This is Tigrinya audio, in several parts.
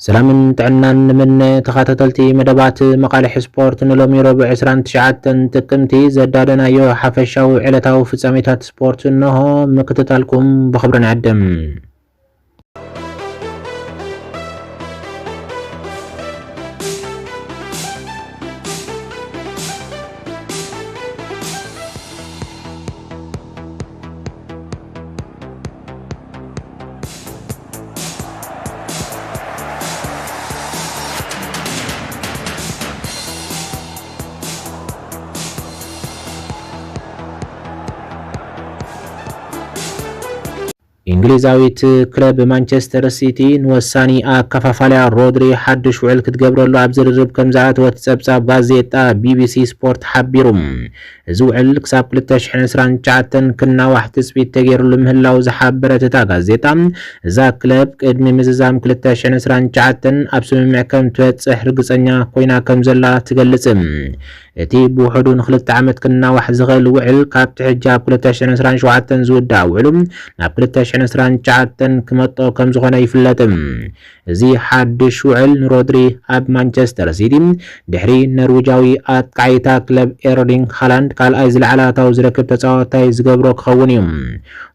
ሰላምን ጥዕናን ንምነ ተኻታተልቲ መደባት መቓልሕ ስፖርት ንሎሚ ረቡዕ ዕስራን ትሽዓተን ጥቅምቲ ዘዳለናዮ ሓፈሻዊ ዕለታዊ ፍጻሜታት ስፖርት እነሆ ምክትታልኩም ብኽብሪ ንዕድም። እንግሊዛዊት ክለብ ማንቸስተር ሲቲ ንወሳኒ ኣከፋፋልያ ሮድሪ ሓድሽ ውዕል ክትገብረሉ ኣብ ዝርርብ ከም ዝኣተወት ጸብጻብ ጋዜጣ ቢቢሲ ስፖርት ሓቢሩ። እዚ ውዕል ክሳብ ክልተ ሽሕን ዕስራን ትሽዓተን ክናዋሕ ትፅቢት ተገይርሉ ምህላዉ ዝሓበረት እታ ጋዜጣ፣ እዛ ክለብ ቅድሚ ምዝዛም ክልተ ሽሕን ዕስራን ትሽዓተን ኣብ ስምምዕ ከምትበፅሕ ርግፀኛ ኮይና ከምዘላ ትገልፅ። እቲ ብውሕዱ ንክልተ ዓመት ክናዋሕ ዝኽእል ውዕል ካብቲ ሕጂ ኣብ ክልተ ሽሕን ዕስራን ሸውዓተን ዝውዳእ ውዕሉ ናብ ክልተ ሽሕን ዕስራን ትሽዓተን ክመጦ ከምዝኾነ ይፍለጥ። እዚ ሓድሽ ውዕል ንሮድሪ ኣብ ማንቸስተር ሲቲ ድሕሪ ነርዊጃዊ ኣጥቃዓይ እታ ክለብ ኤርሊንግ ሃላንድ ካልኣይ ዝለዓለ ኣታዊ ዝረክብ ተጻዋታይ ዝገብሮ ክኸውን እዩ።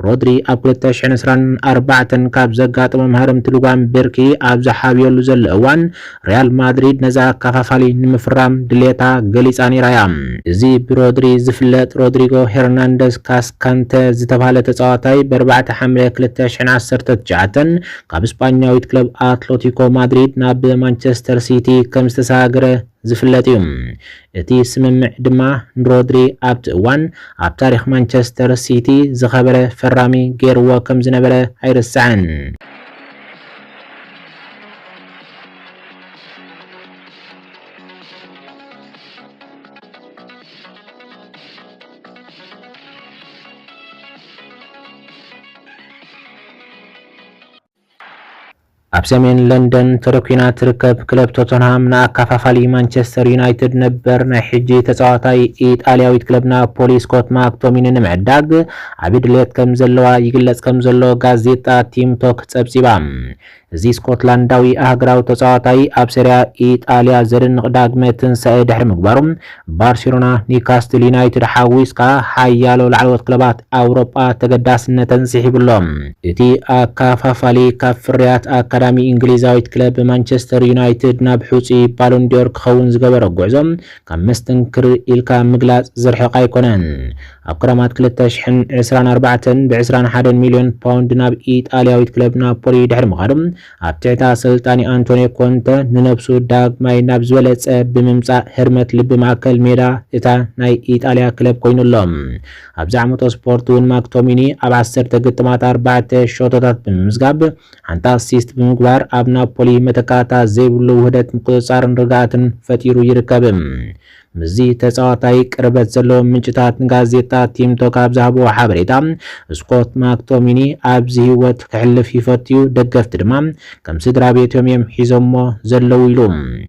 ሮድሪ ኣብ ክልተ ሽሕን ዕስራን ኣርባዕተን ካብ ዘጋጠሞ መሃረምቲ ልጓም ብርኪ ኣብ ዝሓብየሉ ዘሎ እዋን ሪያል ማድሪድ ነዚ ኣከፋፋሊ ንምፍራም ድሌታ ገሊጻ ነይራ እያ። እዚ ብሮድሪ ዝፍለጥ ሮድሪጎ ሄርናንደዝ ካስካንተ ዝተብሃለ ተጻዋታይ ብ ኣርባዕተ ሓምለ ክልተ ሽሕን ዓሰርተ ትሽዓተን ካብ ስጳኛዊት ክለብ ኣትለቲኮ ማድሪድ ናብ ማንቸስተር ሲቲ ከም ዝተሰጋገረ ዝፍለጥ እዩ። እቲ ስምምዕ ድማ ንሮድሪ ኣብቲ እዋን ኣብ ታሪኽ ማንቸስተር ሲቲ ዝኸበረ ፈራሚ ገይርዎ ከም ዝነበረ ኣይርሳዕን። ኣብ ሰሜን ለንደን ተደኲና ትርከብ ክለብ ቶተንሃም ንኣካፋፋሊ ማንቸስተር ዩናይትድ ነበር ናይ ሕጂ ተጻዋታይ ኢጣልያዊት ክለብ ናፖሊ ስኮት ማክቶሚኒ ንምዕዳግ ዓቢ ድሌት ከም ዘለዋ ይግለጽ ከም ዘሎ ጋዜጣ ቲም ቶክ ጸብጺባ። እዚ ስኮትላንዳዊ ኣህግራዊ ተጻዋታይ ኣብ ሰሪያ ኢጣልያ ዘደንቕ ዳግመ ትንሳኤ ድሕሪ ምግባሩ ባርሴሎና፣ ኒውካስትል ዩናይትድ ሓዊስካ ሓያሎ ላዕለዎት ክለባት ኣውሮጳ ተገዳስነተን ስሒቡ ኣሎ። እቲ ኣከፋፋሊ ካብ ፍርያት ኣካዳሚ እንግሊዛዊት ክለብ ማንቸስተር ዩናይትድ ናብ ሕጹይ ባሎንድዮር ክኸውን ዝገበሮ ጉዕዞ ካብ መስተንክር ኢልካ ምግላጽ ዝርሕቕ ኣይኮነን። ኣብ ክረማት ክልተ ሽሕን ዕስራን ኣርባዕተን ብዕስራን ሓደን ሚልዮን ፓውንድ ናብ ኢጣልያዊት ክለብ ናፖሊ ድሕሪ ምኻዱ፣ ኣብ ትሕቲ ኣሰልጣኒ ኣንቶንዮ ኮንተ ንነብሱ ዳግማይ ናብ ዝበለጸ ብምምጻእ ህርመት ልቢ ማእከል ሜዳ እታ ናይ ኢጣልያ ክለብ ኮይኑ ኣሎ። ኣብዚ ዓመቶ ስፖርት'ውን ማክቶሚኒ ኣብ ዓሰርተ ግጥማት ኣርባዕተ ሸቶታት ብምምዝጋብ ሓንቲ ኣሲስት ብምግባር ኣብ ናፖሊ መተካእታ ዘይብሉ ውህደት ምቁጽጻርን ርግኣትን ፈጢሩ ይርከብ። ምስዚ ተጻዋታይ ቅርበት ዘለዎም ምንጭታት ንጋዜጣ ቲም ቶክ ኣብ ዝሃብዎ ሓበሬታ፣ ስኮት ማክቶሚኒ ኣብዚ ህይወት ከሕልፍ ይፈቱ'ዩ፣ ደገፍቲ ድማ ከም ስድራቤቶም'ዮም ሒዞሞ ዘለዉ ኢሉ።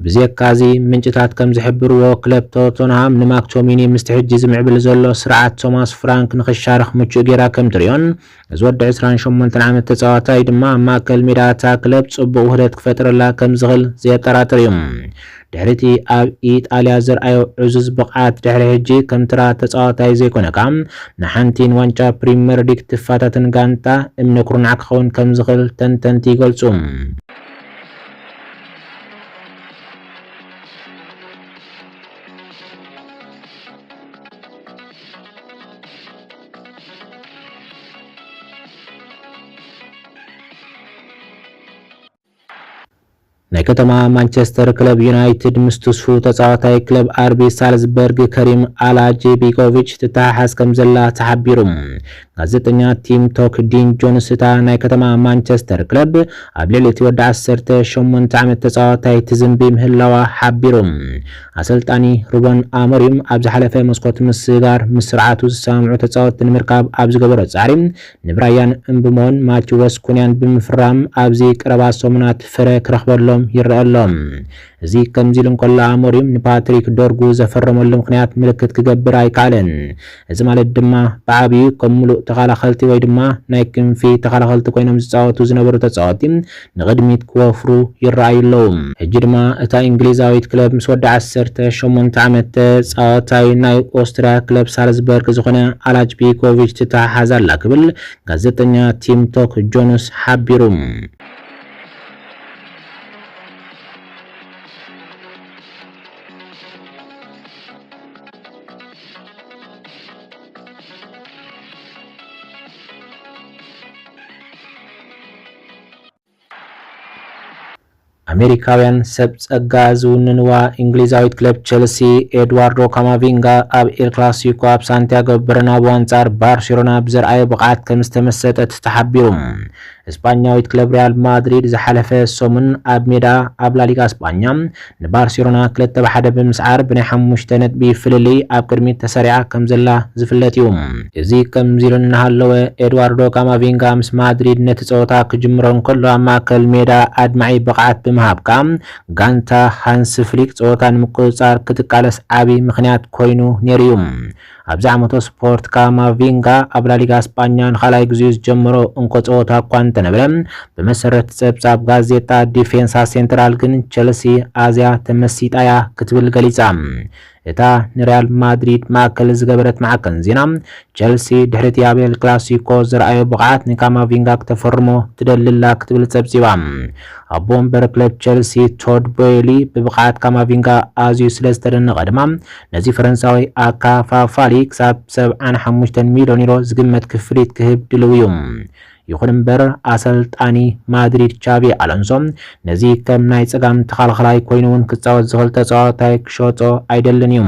ብዜካ'ዚ፣ ምንጭታት ከም ዝሕብርዎ፣ ክለብ ቶተንሃም ንማክቶሚኒ ምስቲ ሕጂ ዝምዕብል ዘሎ ስርዓት ቶማስ ፍራንክ ንኽሻርኽ ምቹእ ጌራ ከም ትርእዮን፣ እዚ ወዲ ዕስራን ሸሞንተን ዓመት ተጻዋታይ ድማ ኣብ ማእከል ሜዳ እታ ክለብ ጽቡቕ ውህደት ክፈጥረላ ከምዝኽል ዘየጠራጥር እዩ። ድሕሪ'ቲ ኣብ ኢጣልያ ዘርኣዮ ዕዙዝ ብቕዓት ድሕሪ ሕጂ ከም ተራ ተጻዋታይ ዘይኮነካ ንሓንቲ ንዋንጫ ፕሪመር ሊግ ትፈታተን ጋንታ እምነ ኩርናዕ ክኸውን ከምዝኽል ተንተንቲ ይገልጹ። ናይ ከተማ ማንቸስተር ክለብ ዩናይትድ ምስ ትስፉ ተጻዋታይ ክለብ ኣርቢ ሳልዝበርግ ከሪም ኣላጄቢጎቪች ትተሓሓዝ ከም ዘላ ተሓቢሩ። ጋዜጠኛ ቲም ቶክ ዲን ጆንስ እታ ናይ ከተማ ማንቸስተር ክለብ ኣብ ልዕሊ እቲ ወዲ 18 ዓመት ተጻዋታይ ትዝንቢ ምህላዋ ሓቢሩ። ኣሰልጣኒ ሩበን ኣሞሪም ኣብ ዝሓለፈ መስኮት ምስጋር ምስ ስርዓቱ ዝሰማምዑ ተጻወትቲ ንምርካብ ኣብ ዝገበሮ ጻዕሪ ንብራያን እምብሞን ማቲወስ ኩንያን ብምፍራም ኣብዚ ቀረባ ሰሙናት ፍረ ክረኽበሎም ይረኣ ኣሎ። እዚ ከምዚሉ እንከሎ ኣሞሪም ንፓትሪክ ዶርጉ ዘፈረመሉ ምኽንያት ምልክት ክገብር ኣይከኣለን። እዚ ማለት ድማ ብዓብዩ ከም ምሉእ ተኸላኸልቲ ወይ ድማ ናይ ክንፊ ተኸላኸልቲ ኮይኖም ዝጻወቱ ዝነበሩ ተጻወቲ ንቕድሚት ክወፍሩ ይረኣዩ ኣለዉ። ሕጂ ድማ እታ ኢንግሊዛዊት ክለብ ምስ ወዲ ዓሰርተ ሸሞንተ ዓመት ተጻዋታይ ናይ ኦስትርያ ክለብ ሳልዝበርግ ዝኾነ ኣላጅ ቢኮቪች ትተሓሓዝ ኣላ ክብል ጋዜጠኛ ቲም ቶክ ጆንስ ሓቢሩ። ኣሜሪካውያን ሰብ ጸጋ ዝውንንዋ እንግሊዛዊት ክለብ ቸልሲ፣ ኤድዋርዶ ካማቪንጋ ኣብ ኤል ክላሲኮ ኣብ ሳንቲያጎ በርናቡ ኣንጻር ባርሴሎና ብዘርኣዮ ብቕዓት ከምዝተመሰጠት ተሓቢሩ። ስጳኛዊት ክለብ ሪያል ማድሪድ ዝሓለፈ ሰሙን ኣብ ሜዳ ኣብ ላሊጋ ስጳኛ ንባርሴሎና ክልተ ብ ሓደ ብምስዓር ብናይ ሓሙሽተ ነጥቢ ፍልልይ ኣብ ቅድሚት ተሰሪዓ ከምዘላ ዝፍለጥ እዩ። እዚ ከምዚ ኢሉ እናሃለወ ኤድዋርዶ ካማቪንጋ ምስ ማድሪድ ነቲ ጸወታ ክጅምሮ እንከሎ ኣብ ማእከል ሜዳ ኣድማዒ ብቕዓት ብምሃብካ ጋንታ ሃንስ ፍሊክ ጸወታ ንምቁጽጻር ክትቃለስ ዓቢ ምኽንያት ኮይኑ ነይሩ እዩ። ኣብዚ ዓመተ ስፖርት ካማቪንጋ ኣብ ላሊጋ ስጳኛ ንኻልኣይ ግዜኡ ዝጀመሮ እንኮ ጸወታ እኳ እንተነበረ፣ ብመሰረት ጸብጻብ ጋዜጣ ዲፌንሳ ሴንትራል ግን ቸልሲ ኣዝያ ተመሲጣ'ያ ክትብል ገሊጻ። እታ ንርያል ማድሪድ ማእከል ዝገበረት ማዕከን ዜና፣ ቸልሲ ድሕሪ'ቲ ኣብ ኤል ክላሲኮ ዘርኣዮ ብቕዓት ንካማቪንጋ ክተፈርሞ ትደሊ'ላ ክትብል ጸብጺባ። ኣቦ ወንበር ክለብ ቸልሲ ቶድ ቦይሊ ብብቕዓት ካማቪንጋ ኣዝዩ ስለዝተደነቐ ድማ ነዚ ፈረንሳዊ ኣካፋፋሊ ክሳብ ሰብዓን ሓሙሽተን ሚልዮን ዩሮ ዝግመት ክፍሊት ክህብ ድልው እዩ። ይኹን እምበር ኣሰልጣኒ ማድሪድ ቻቪ ኣሎንሶ ነዚ ከም ናይ ጸጋም ተኸላኸላይ ኮይኑ እውን ክጻወት ዝኽእል ተጻዋታይ ክሸጦ ኣይደልን እዩ።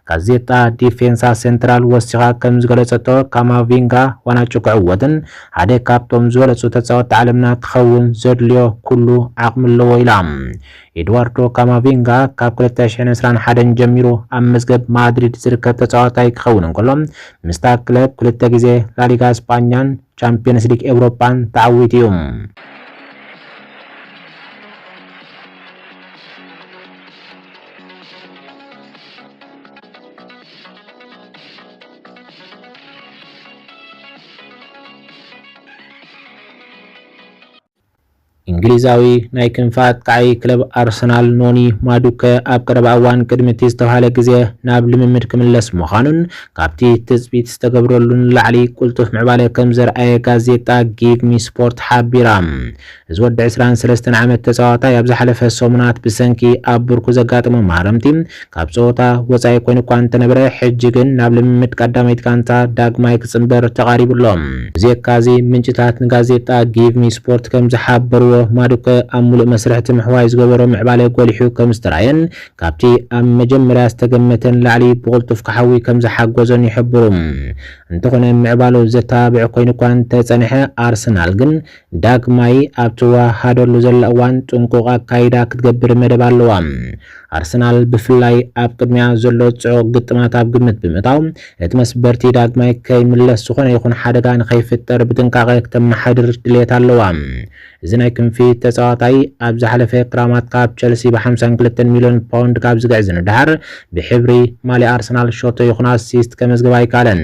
ጋዜጣ ዲፌንሳ ሴንትራል ወሲኻ ከም ዝገለጸቶ ካማቪንጋ ዋናጩ ክዕወትን ሓደ ካብቶም ዝበለጹ ተጻወቲ ዓለምና ክኸውን ዘድልዮ ኩሉ ዓቕሚ ኣለዎ ኢላ። ኤድዋርዶ ካማቪንጋ ካብ ክልተ ሽሕን ዕስራን ሓደን ጀሚሩ ኣብ መዝገብ ማድሪድ ዝርከብ ተጻዋታይ ክኸውን እንከሎ፣ ምስታ ክለብ ክልተ ግዜ ላሊጋ ስጳኛን ቻምፕዮንስ ሊግ ኤውሮጳን ተዓዊቱ እዩ። እንግሊዛዊ ናይ ክንፊ ኣጥቃዓይ ክለብ ኣርሰናል ኖኒ ማዱከ ኣብ ቀረባ እዋን ቅድሚ እቲ ዝተብሃለ ግዜ ናብ ልምምድ ክምለስ ምዃኑን ካብቲ ትጽቢት ዝተገብረሉ ንላዕሊ ቅልጡፍ ምዕባለ ከም ዘርኣየ ጋዜጣ ጊግሚስፖርት ሓቢራ። እዚ ወዲ ዕስራን ሰለስተን ዓመት ተጻዋታይ ኣብ ዝሓለፈ ሰሙናት ብሰንኪ ኣብ ብርኩ ዘጋጠሞ ማህረምቲ ካብ ጸወታ ወጻኢ ኮይኑ'ኳ እንተነበረ፣ ሕጂ ግን ናብ ልምምድ ቀዳመይቲ ጋንታ ዳግማይ ክጽንበር ተቓሪቡ ኣሎ። ብዜካ'ዚ፣ ምንጭታት ንጋዜጣ ጊቭ ሚ ስፖርት ከም ዝሓበርዎ፣ ማዱከ ኣብ ምሉእ መስርሕ እቲ ምሕዋይ ዝገበሮ ምዕባለ ጎሊሑ ከም ዝተራእየን ካብቲ ኣብ መጀመርያ ዝተገመተ ንላዕሊ ብቕልጡፍ ክሓዊ ከም ዝሓገዞን ይሕብሩ። እንተኾነ ምዕባሉ ዘተባብዕ ኮይኑ'ኳ እንተጸንሐ፣ ኣርሰናል ግን ዳግማይ ኣብ ትወሃሃደሉ ዘላ እዋን ጥንቁቕ ኣካይዳ ክትገብር መደብ ኣለዋ። ኣርሰናል ብፍላይ ኣብ ቅድሚኣ ዘሎ ጽዑቕ ግጥማት ኣብ ግምት ብምእታው፣ እቲ መስበርቲ ዳግማይ ከይምለስ ዝኾነ ይኹን ሓደጋ ንኸይፍጠር ብጥንቃቐ ክተመሓድር ድልየት ኣለዋ። እዚ ናይ ክንፊ ተጻዋታይ፣ ኣብ ዝሓለፈ ክራማት ካብ ቸልሲ ብ ሓምሳን ክልተን ሚልዮን ፓውንድ ካብ ዝግዕዝ ንደሓር፣ ብሕብሪ ማልያ ኣርሰናል ሸቶ ይኹን ኣሲስት ከመዝግብ ኣይከኣለን።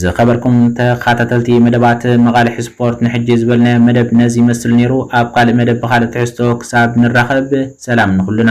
ዝኸበርኩም ተኻታተልቲ መደባት መቓልሕ ስፖርት ንሕጂ ዝበልናዮ መደብ ነዚ ይመስል ኔሩ ኣብ ካልእ መደብ ብኻልእ ትሕዝቶ ክሳብ ንራኸብ ሰላም ንኹልና።